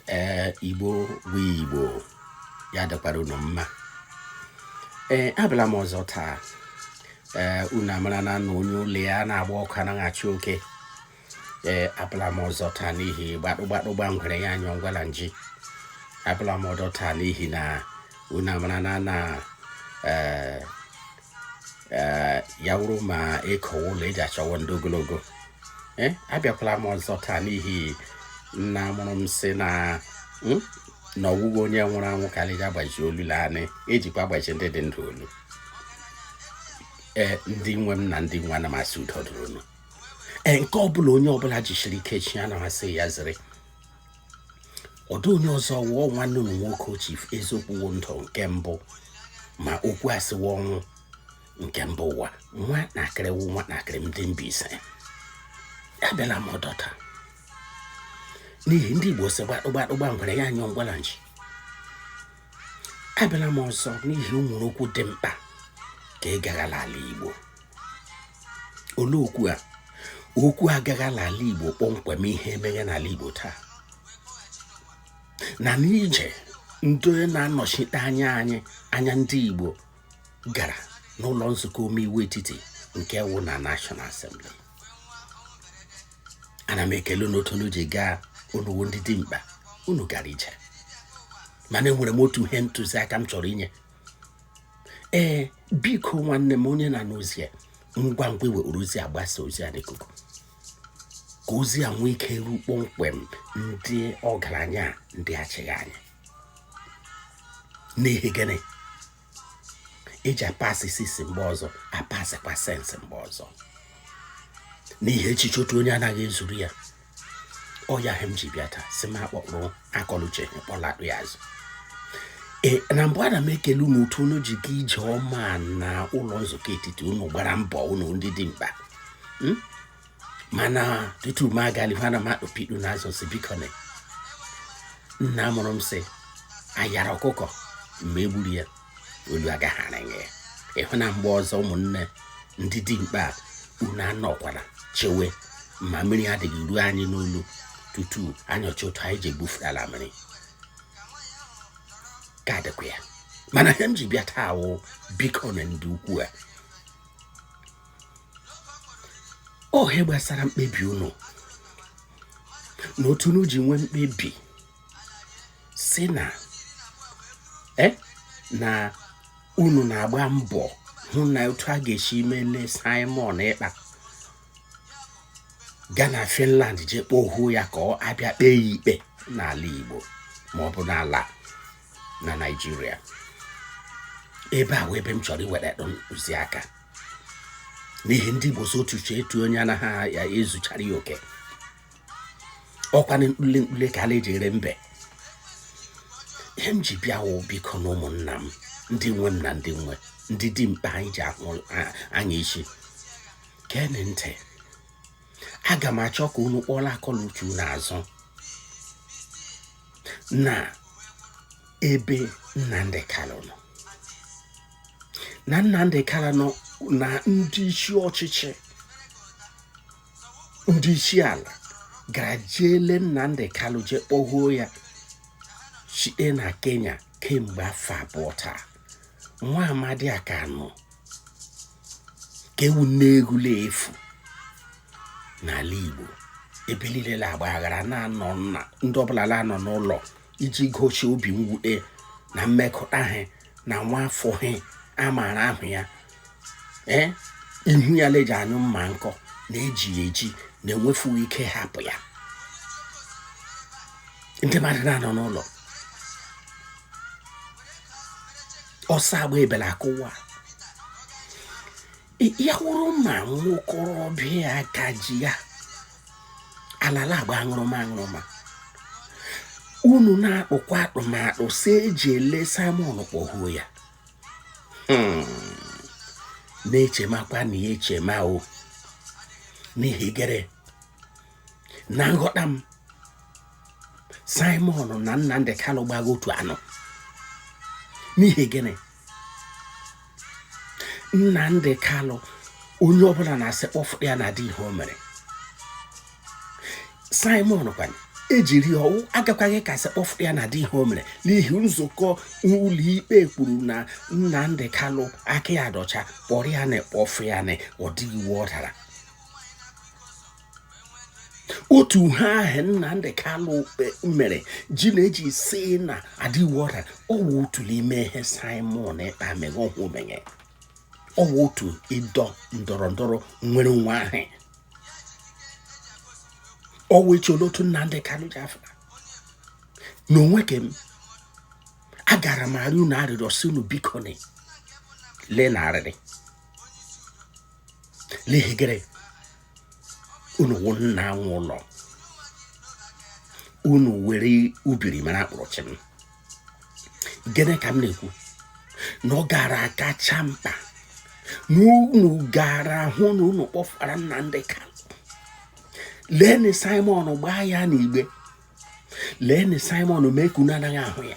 ee igbo wụ igbo ya dịkwara unu mma ee abịala m ọzọ taa ee unu amara na na onye ụlọ ya na-agba ọkụ anaghị achụ oke ee abịala m ọzọ taa n'ihi gbadụgbadụ gba ngwere ya anyụọ ngwala nji abịala m ọdọ taa n'ihi na unu amara na na ee ee ya wụrụ ma ịkọ ụlọ eji achọwa ndị ogologo ee abịakwala m ọzọ taa n'ihi nna mụrụ m si na hmm, na ọ wụghị onye nwụrụ anwụ ka eji agbazi olu naanị ejikwa agbazi ndị dị ndụ olu ee ndị nwe m na ndị m nwe ana m asị udo dụrụ unu ee nke ọbụla onye ọbụla jisiri ike chi ana m asị ya ziri ọ dịghị onye ọzọ ọ wụ nwanne unu nwoke chief eziokwu wụ ndụ nke mbụ ma okwu asị wụ ọnwụ nke mba ụwa nwa na-akịrị wụ nwa na-akịrị ndị mbaise abịala m ọdọ taa n'ihi ndị igbo si gbadụgbadụ gba ngwere ya anyụọ ngwala nji abịala m ọzọ n'ihi enwere okwu dị mkpa ka ị gaghala ala igbo olee okwu a okwu gaghala ala igbo kpọmkwem ihe meghe n'ala igbo taa na n'ije ndị onye na-anọchite anya anyị anya ndị igbo gara n'ụlọ nzukọ omeiwu etiti nke wụ na National Assembly ana m ekele n'otu unu ji gaa unu wụ ndị dimkpa unu gara ije mana enwere m otu ihe ntụziaka m chọrọ inye ee biko nwanne m onye na-anụ ozi a ngwa ngwa were ozi a gbasa ozi a n'ikuku ka ozi a nwee ike ruo kpọmkwem ndị ọgaranya ndị achịgha anyị n'ihi gịnị eji apasị sisi mgbe ọzọ apasịkwa sense mgbe ọzọ n'ihi echiche otu onye anaghị ezuru ya ọ ya ihe m ji bịa taa si m akpọkpụrụ akọluche kpọlatụ ya azụ ee na mbụ ana m ekele unu otu unu ji gaa ije ọma na ụlọ nzukọ etiti unu gbara mbọ unu ndị dimkpa hmm? mana tutu m agali ana m akpụpidu n'azụ si biko na nna mụrụ m sị ayara ọkụkọ mgbe egburu ya olu agaghara ya ịhụ na mgbe ọzọ ụmụnne ndị dimkpa unu anọkwara chewe ma mmiri adịghị ruo anyị n'olu tutu anyị achọ otu anyị ji egbufuru ala mmiri ka adịkwa ya mana ihe m ji bịa taa wụ biko na ndị ukwu a ihe gbasara mkpebi unu na otu unu ji nwee mkpebi si na e, na unu na-agba mbọ hụ na otu a ga-esi mele Simon Ekpa gaa na Finland jee kpohuo ya ka a bịa kpee ya ikpe n'ala Igbo ma ọ bụ n'ala na Naịjirịa ebe a wụ ebe m chọrọ iwere ntụziaka n'ihi ndị Igbo sị otu uche otu onye anaghị ya ezuchara ya oke ọkwa na mkpule mkpule ka a na-eji ere mbe ihe m ji bịa wụ biko na ụmụnna m ndị nwe m na ndị nwe ndị dimkpa anyị ji ahụ anya isi geenị ntị aga m achọ ka unu kpọla akọ la uche unu azụ na ebe Nnamdi Kanu nọ na Nnamdi Kanu nọ na ndị isi ọchịchị ndị isi ala gara jile Nnamdi Kanu jee kpọhuo ya site na Kenya kemgbe afọ abụọ taa nwa amadi a ka nọ ka ewu nne egwula efu n'ala Igbo ebe niile na-agba aghara na Monday ọbụla na-anọ n'ụlọ iji gosi obi mwute na mmekọta ha na nwa afọ ha a maara ahụ ya ee eh, ihu ya la-eji anyụ mma nkọ na e ji ya eji na-enwefughị ike hapụ ya ndị mmadụ na-anọ n'ụlọ ọsọ agba ebela akụwa ya wụrụ ma nwokorobịa aka ji ya ala la-agba aṅụrụma aṅụrụma unu na-akpụkwa atụmatụ sị e jile Simon kpọhuo ya hmm. na-echemakwanị ya echema o n'ihi gịrị na nghọta m Simon na Nnamdi Kanu gbago otu anọ n'ihi gịrị Nnamdi Kanu onye ọbụla na-asị kpọfụ ya na adịghị ihe o mere Simon kwanụ e jiri ọ wụ agakwaghị ka a sị kpọfụ ya na adịghị ihe o mere n'ihi nzukọ ụlọikpe kwuru na Nnamdi Kanu aka ya dị ọcha kpọrọ ya na kpọfụ ya na ọ dịghị iwu ọ dara otu ihe ahụ Nnamdi Kanu mere ji na-eji si na adịghị iwu ọ dara ọ wụ otu n'ime ihe Simon Ekpa mere ọhụ menye ọ wụ otu ịdọ ndọrọ ndọrọ nwere onwe ahụ ọ wụ echi otu Nnamdi Kanu ji afọ na onwe ka m agara m arị unu arịrịọ sị unu bikonị lee na arịrị n'ihi gịrị unu wụ nna anwụ ụlọ unu were ubiri mara akpọrọ chi m gịnị ka m na-ekwu na ọ gara akacha mkpa na unu gara hụ na unu kpọfara Nnamdị Kalụ leenụ Simon gbaa ya n'igbe leenị simon mee ka unu anaghị ahụ ya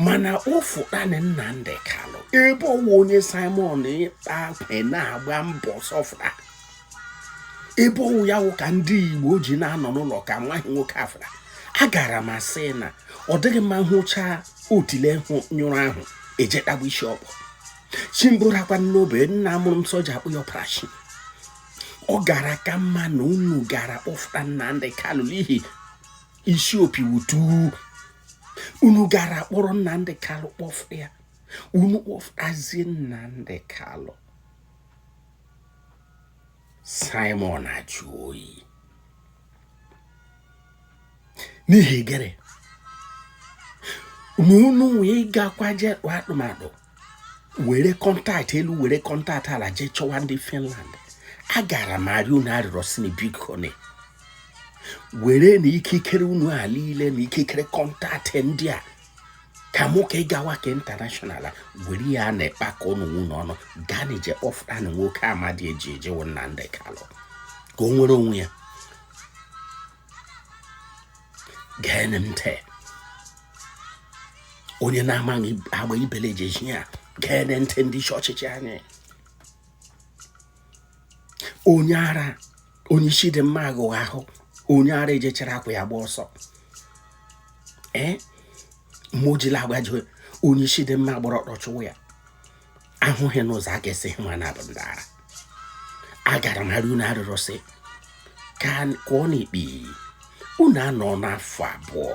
mana kpọfụtanị nnamdị kalụ ebe ọ wụ onye simon Ekpa kwe na-agba mbọ sọfra ebe ọ wụ ya wụ ka ndị igbo ji na-anọ n'ụlọ ka nwaanyị nwoke afra agara m asị na ọ dịghị mma ịhụcha otile nyụrụ ahụ eje kpagbu isi ọkpọ chimburakwa n'obe nna mụrụ m soja akpọ ya operation ọ gara ka mma na unu gara kpọfụta Nnamdị Kalụ n'ihi isi opi wutu unu gara kpọrọ Nnamdị Kalụ kpọfụ ya unu kpọfụtazie Nnamdị Kalụ Simon ajụ oyi n'ihi gịnị na unu wee gakwa jee atụmatụ were contact elu were contact ala jee chọwa ndị Finland agara m arịọ unu arịrịọ sị na bikonị werenị ikikere unu a niile na ikikere contact ndị a ka mụ ka ị gawa ka international were ya na-ekpa ka ụnụ nwunye ọnụ gaanị jee kpọfụtanị nwoke amadi e ji eji wụ Nnamdi Kalụ ka o nwere onwe ya geenị ntị onye na-amaghị agba ibele jeji ya geenị ntị ndị isi ọchịchị anyị onye ara onye isi dị mma aghụ ahụ onye ara ejee chịrị akwa ya gbaa ọsọ ee mojila agbaji onye isi dị mma gbara ọtọ chụwa ya ahụghị m ụzọ a ga-esi hụ na ha bụ ndị ara agara m arịọ unu arịrịọ sị ka kụọ n'ikpe unu anọna afọ abụọ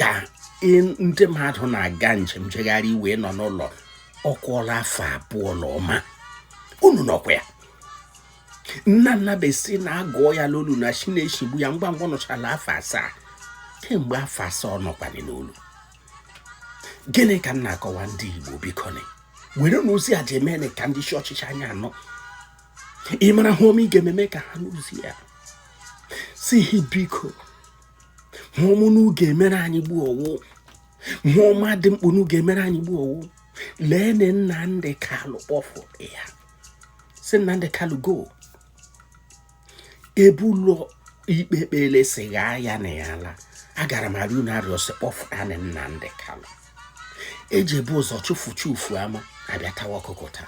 ka ndị mmadụ na-aga njem jegharị iwe nọ n'ụlọ ọ kụọla afọ abụọ na ụma unu nọkwa ya nna nna besi na-agụọ ya n'olu na chi na-echigbu ya ngwa ngwa nọchala afọ asaa kemgbe afọ asaa ọ nọkwanye n'olu gịnị ka m na-akọwa ndị Igbo bikonị werenị ozi a jee meenị ka ndị isi ọchịchị anyị anụ ị mara ihe ọma ị ga-eme mee ka ha nụ ozi a sị hi biko ihe ọma unu ga-emere anyị gbuo ọ wụ ihe ọma dị mkpa unu ga-emere anyị gbuo ọ wụ leenị Nnamdị Kalụ kpọfụ ya sị Nnamdị Kalụ go ebe ụlọ ikpe kpere sị ghaa ya na ya laa agara m arịọ unu arịọ sị kpọfụta na Nnamdi Kanu eji ebu ụzọ chụfu ufu ama abịa tawa ọkụkọ ụta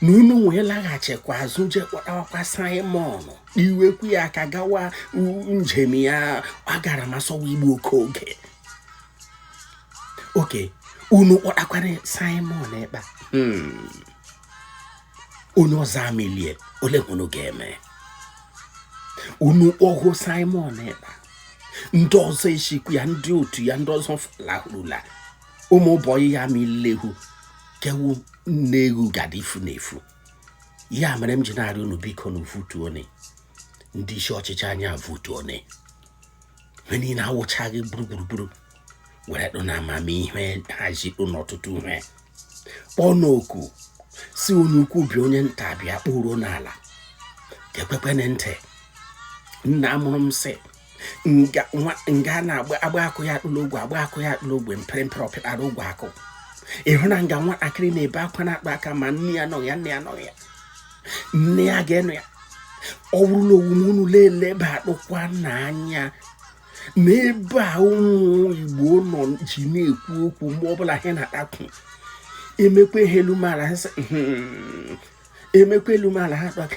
na unu wee laghachikwa azụ je kpọtawakwa Simon iwekwu ya aka gawa njem ya agara m asụwa Igbo oke oge oke unu kpọtakwara Simon Ekpa hmm. onye ọzọ amelie ole ihe unu ga-eme unu kpọgo Simon Ekpa ndị ọzọ echikwu ya ndị otu ya ndị ọzọ lahụrụla ụmụ bọyị ya milehu kewu nne egwu gada ifu na efu ya mere m ji na-arịọ unu biko na vutuoni ndị isi ọchịchị anyị a vutuoni ha niile awụchaghị gburugburu were dụ na amamihe hazi dụ n'ọtụtụ ihe kpọọ oku sị onye ukwu bịa onye nta bịa kpụruo n'ala ga-ekwekwenye ntị nna mụrụ m sị nga na-agba akụ ya atụ la ogwe agbaa akụ ya atụ la ogwe mpere mpere ọ pịtara ogwe akụ ị hụ na nga nwatakịrị na-ebe akwa na-atụ aka ma nne ya anọ ya nna ya ga-anọ ya ọ bụrụ la ọ wụ unu na-elebatụkwa anya n'ebe a ụmụ igbo nọ ji na-ekwu okwu mgbe ọbụla ha na-atakwu emekwa ihe elu mala ha hmm, emekwa elu mala ha kpaka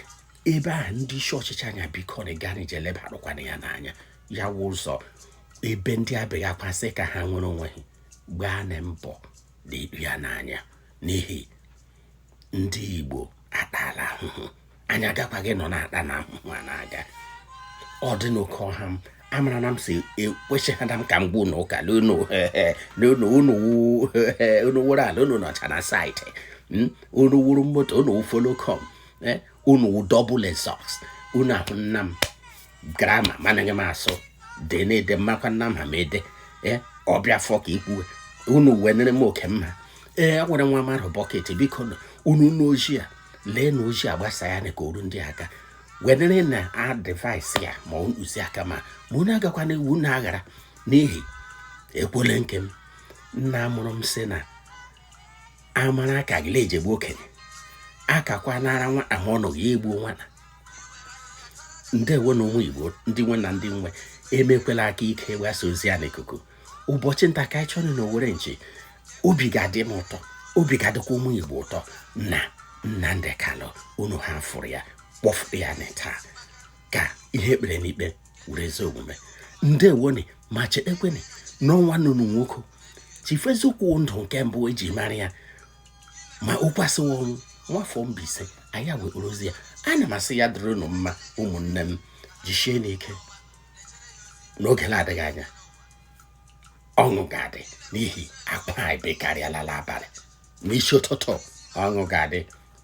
ebe a ndị isi ọchịchị anyị a biko na gaanị je lebatụkwana ya n'anya ya wụ ụzọ ebe ndị a bega akwa sị ka ha nwere onwe ha gbaanị mbọ netụ ya n'anya n'ihi ndị Igbo atala ahụhụ anyị agakwaghị nọ na-ata na ahụhụ a na-aga ọ dị n'oke ọha m amara na m si ekwesịghada m ka m gwa unu ụka unu wụrụ ala unu nọcha na site hmm? unu wụrụ moto unu wụ follow come eh? unu wụ double exhaust unu ahụ nna m grama managhị m asụ dị na-ede mmakwa nna m ha ma ede ee ọbịa afọ ka ikwuwe unu wee nere m oke mma ee a nwere nwa mmadụ bọket biko unu n'oji a lee na oji a gbasa ya na ka oru ndị aka wenere na advice ya ma ntụziaka ma unu agakwana iwu na aghara n'ihi ekwele nke m nna mụrụ m sị na amara aka gị na-ejegbu okenye akakwa nara nwata ma ọ nọghị egbuo nwata ndewonu ụmụ Igbo ndị nwe m na ndị m nwe emekwela aka ike gbasa ozi a n'ikuku ụbọchị nta ka anyị chụọ na owere nchi obi ga-adị m ụtọ obi ga-adịkwa ụmụ Igbo ụtọ na Nnamdi Kanu unu hafụrụ ya kpọfụ ya na taa ka ihe e kpere n'ikpe were ezi omume ndewoni ma chetekwene na ọ nwanne unu nwoke Chief Eziokwu ndụ nke mbụ eji mara ya ma o kwusiwa ọ wụ nwafọ Mbaise anyị wekporo ozi ya ana m asị ya dịrị unu mma ụmụnne m jisieni ike n'oge na-adịghị anya ọṅụ ga-adị n'ihi akwa anyị bekarịala n'abalị n'isi ụtụtụ ọṅụ ga-adị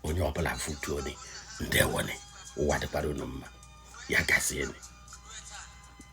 onye ọbụla futuoni ndewoni ụwa dịkwara unu mma ya gazieni